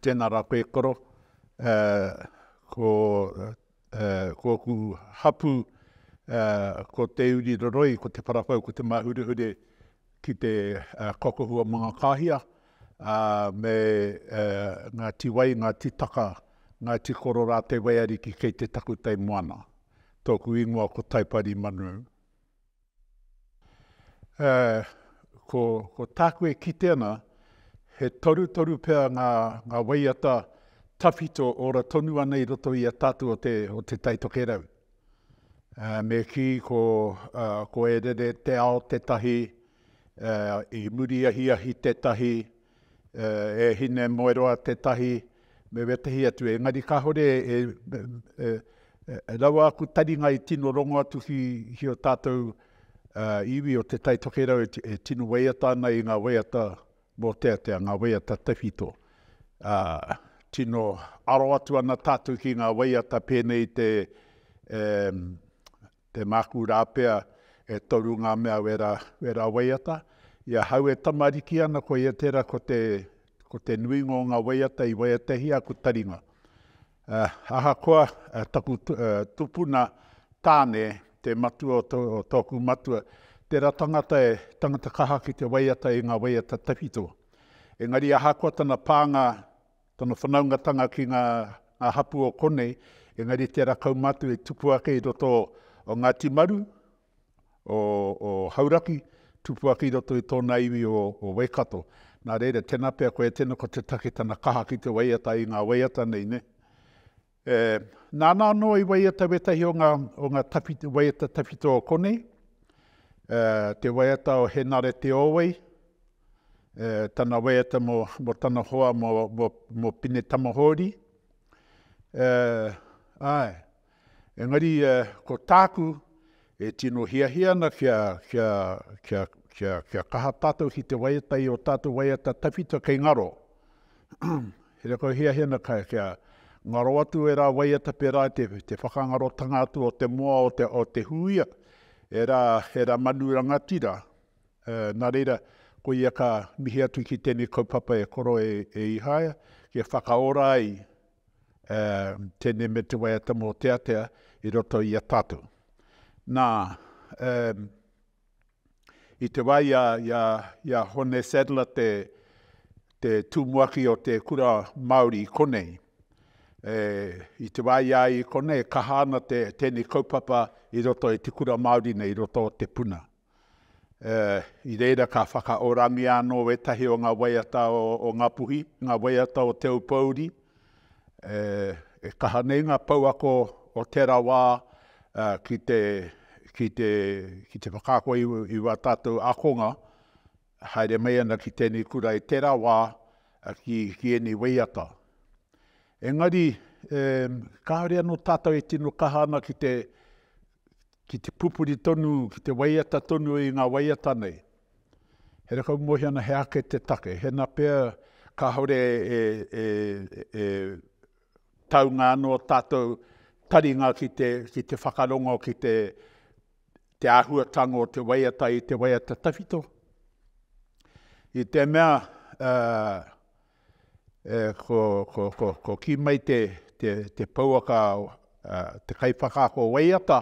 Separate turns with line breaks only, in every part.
Tēnā rā koe koro, ko ōku hapū, ko Te Uri Roroi, ko Te Parawhau, ko Te Māhurehure ki te Kokohu o Mangakāhia, me Ngāti Wai, Ngāti Taka, Ngāti Koro rā te waiariki kei te takutai moana. Tōku ingoa ko Taipari Manu. Ko tāku e kite ana, he torutoru pea ngā waiata tawhito ora tonu ana i roto i a tātou o Te Tai Tokerau. Me kī, ko E Rere Te Ao tētahi, i muri ahiahi tētahi. E Hinemoeroa tētahi, me wētahi atu, engari kāore e raua aku taringa i tino rongo atu ki o tātou iwi o Te Taitokerau e tino waiata ana i ngā waiata mōteatea, ngā waiata tawhito. Tino aro atu ana tātou ki ngā waiata pēnei i te Te māku rā pea, e toru ngā mea wera, wera waiata. I ahau e tamariki ana, koia tērā ko te, ko te nuinga o ngā waiata i waiatahia aku taringa. Uh, ahakoa uh, taku uh, tupuna tāne, te matua o, to, o tōku matua, tērā tangata e tangata kaha ki te waiata i ngā waiata tawhito. Engari ahakoa tana pānga Tana whanaungatanga ki ngā hapū o konei, engari tērā kaumātua i tupu ake i roto o Ngāti Maru, o Hauraki, tupu ake i roto i tōna iwi o Waikato. Nā reira, tēnā pea koe e tino ko te take tana kaha ki te waiata i ngā waiata nei, nē? E, nāna anō i waiata wētahi o ngā, o ngā tawhiti, waiata tawhito o konei, e, te waiata o Henare Te Owei, e, tana waiata mō, mō tana hoa mō, mō, mō Pine Tamahōri, e, āe, engari e, ko tāku e tino hiahia ana kia, kia, kia, kia, kia kaha tātou ki te waiata i ō tātou waiata tawhito kei ngaro, He reo kau hiahia na kai kia ngaro atu e ra waiata pera i te whakangarotanga atu o te moa o te huia, e ra e ra manu rangatira. Na reira, ko ia ka mihi atu ki tenei kaupapa e koro e Ihaia, kia whakaora ai tenei me te waiata moteatea i roto i a tatou. Na, I te wā i a Hone Sadler te tumuaki o te kura Māori i konei, i te wā i a ia i konei e kaha ana tēnei kaupapa i roto i te kura Māori nei, i roto o Te Puna. I reira ka whakaorangia anō ētahi o ngā waiata o Ngāpuhi, ngā waiata o Te Aupōuri, E kaha nei ngā pouako o tērā wā ki te, ki te, ki te whakaako i wā tātou ākonga e haere mai ana ki tēnei kura i tērā wā ki, ki ēnei waiata. Engari, kāore anō tātou e tino kaha ana ki te, ki te pupuri tonu, ki te waiata tonu i ngā waiata nei. Here kau mohi ana he ake te take, hena pea kāore e, e, e taunga anō tātou taringa ki te, ki te whakarongo, ki te, te āhuatanga o te waiata i te waiata tawhito. I te mea, uh, Ko kī mai te pouaka te kaiwhakaako waiata,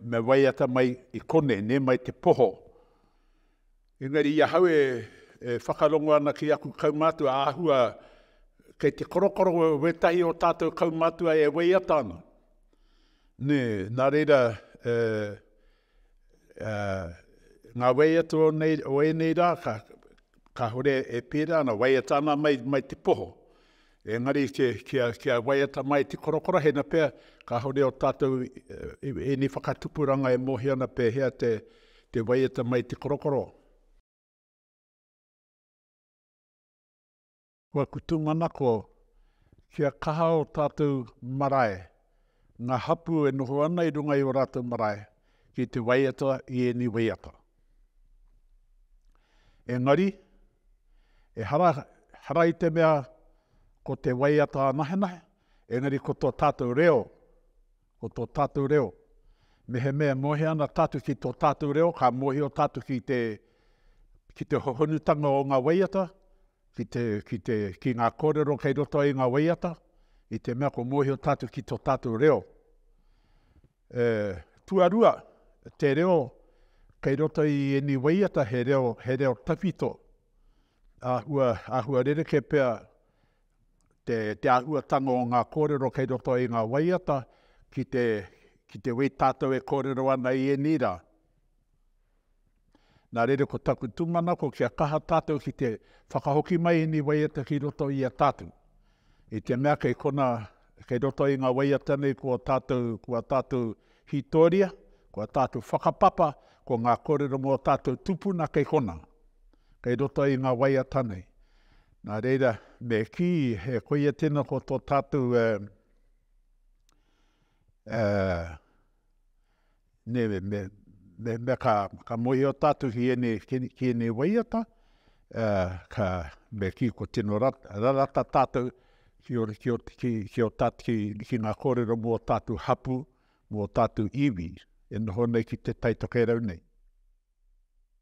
me waiata mai i kone, nē mai te poho. Engari i ahau e whakarongo ana ki aku kaumātua āhua kei te korokoro wētahi o tātou kaumātua e waiata ana. Nē, nā reira, ngā wai atu o, nei, o ēnei rā, ka, kāore e pērā ana, waiata ana mai, mai te poho. Engari kia, kia, kia waiata mai te korokorohena pea, kāore o tātou ēnei whakatupuranga e mōhio ana pēhea te, te waiata mai te korokoro. Kua kutu manako kia kaha o tātou marae, ngā hapū e noho ana i runga i o rātou marae ki te waiata i ēnei waiata. Engari, ehara, ehara i te mea ko te waiata anahenahe, engari ko to tātou reo, Ko to tatu reo. Mehemea mohe ana tatu ki to tatu reo, ka mohio tatu ki te, ki te hohonutanga o nga waiata, ki te, ki te, ki nga korero kei roto i nga waiata, i te mea ko mohio tatu ki to tatu reo. E, tuarua, te reo kei roto i eni waiata he reo, he reo tawhito, ahua, ahua rereke pea te āhuatanga o ngā kōrero kei roto i ngā waiata, ki te, ki te wī tātou e kōrero ana i ēnei rā. Nā reira ko taku tūmanako kia kaha tātou ki te whakahoki mai ēnei waiata ki roto i a tātou. I te mea kei kona, kei roto i ngā waiata nei kua tātou, kua tātou hītoria, kua tātou whakapapa, ko ngā kōrero mō tātou tūpuna kei kona, kei roto i ngā waiata nei. Nā reira, me kī, e koia tēnā ko tō tātou e, e, nē, me, me, me, me ka, ka mohio tātou ki ēnei, ki, ki ēnei waiata, e, ka, me kī ko tino rat, rarata tātou ki o, ki o, ki, ki o tātou, ki, ki ngā kōrero mō tātou hapu, mō tātou iwi, e noho nei ki te taitokerau nei.